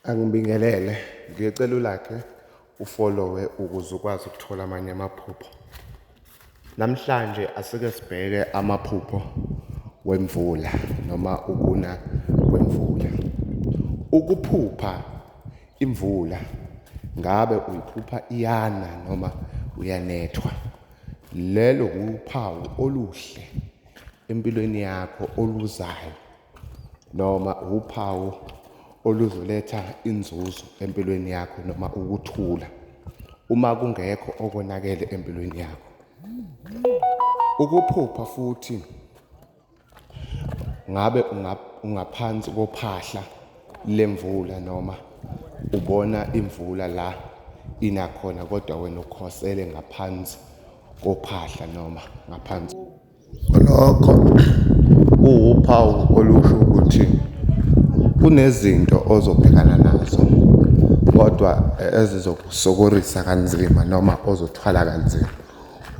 Angibingelele, ngiyocela ulakhe ufolowe ukuze ukwazi ukuthola amanye amaphupho. Namhlanje asike sibheke amaphupho wemvula noma ukuna kwemvula. Ukuphupha imvula ngabe uyiphupha iyana noma uyanethwa. Lelo wuphawu oluhle empilweni yakho oluzayo noma wuphawu oluzoletha inzuzo empilweni yakho noma ukuthula uma kungekho okonakele empilweni yakho. Ukuphupha futhi ngabe ungaphansi kophahla lemvula noma ubona imvula la ina khona kodwa wena ukhosele ngaphansi kophahla noma ngaphansi Nokho kuwuphawu olusho ukuthi kunezinto ozobhekana nazo kodwa ezizokusokorisa kanzima noma ozothwala kanzima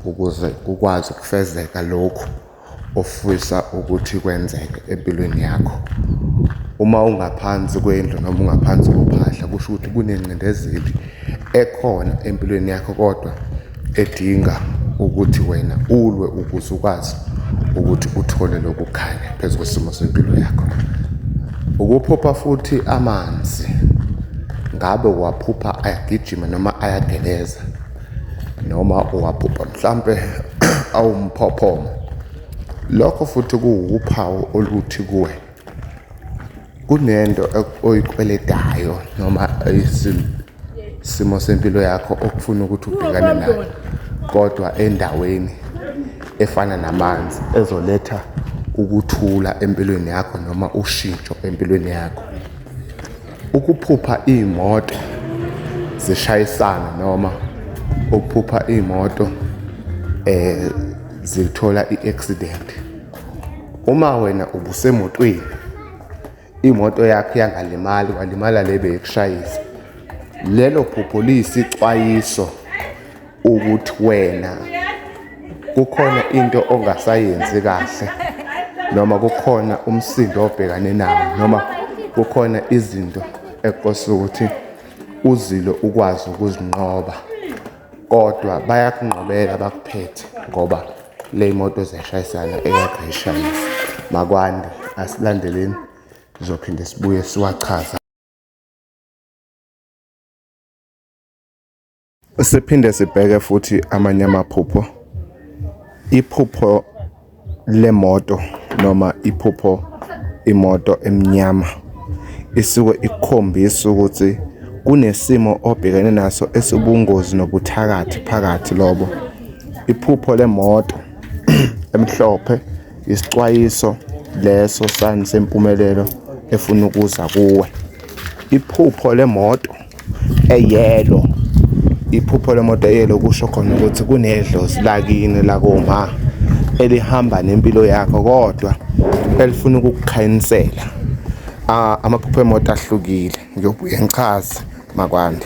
ukuze kukwazi ukufezeka lokhu ofisa ukuthi kwenzeke empilweni yakho. Uma ungaphansi kwendlu noma ungaphansi kophahla kusho ukuthi kunengcindezeli ekhona empilweni yakho kodwa. edinga ukuthi wena ulwe ukuze ukwazi ukuthi uthole lokukhanya phezu kwesimo sempilo yakho ukuphupha futhi amanzi ngabe uwaphupha ayagijima noma ayageleza noma uwaphupha mhlampe awumphophomo lokho futhi kuwuphawu oluthi kuwe kunento oyikweletayo noma isimo sempilo yakho okufuna ukuthi ubhekane nayo kodwa endaweni efana namanzi ezoletha ukuthula empilweni yakho noma ushintsho empilweni yakho ukuphupha iy'moto zishayisana noma ukuphupha iy'moto um zithola i-accident Uma wena ubusemotweni imoto yakho yangalimali walimala le beyikushayisa lelo phupho liyisixwayiso ukuthi wena kukhona into ongasayenzi kahle noma kukhona umsindo obhekane nawo noma kukhona izinto ekose ukuthi uzilo ukwazi ukuzinqoba kodwa bayakunqobela bakuphethe ngoba le moto ziyashayisana eyagayishayisa makwande asilandeleni sizophinde sibuye siwachaza siphinde sibheke futhi amanye amaphupho iphupho Le moto noma iphupho imoto emnyama isuke ikukhombisa ukuthi kunesimo obhekene naso esibungozi nobuthakathi phakathi lobo. Iphupho lemoto emhlophe isicwayiso leso sani sempumelelo efuna ukuza kuwe. Iphupho lemoto eyelo iphupho lemoto eyelo kusho khona ukuthi kunedlozi lakini lakoma elihamba nempilo yakho kodwa elifuna ukukukhayinisela ah, amaphupho emoto ahlukile ngiyobuye ngichaze makwande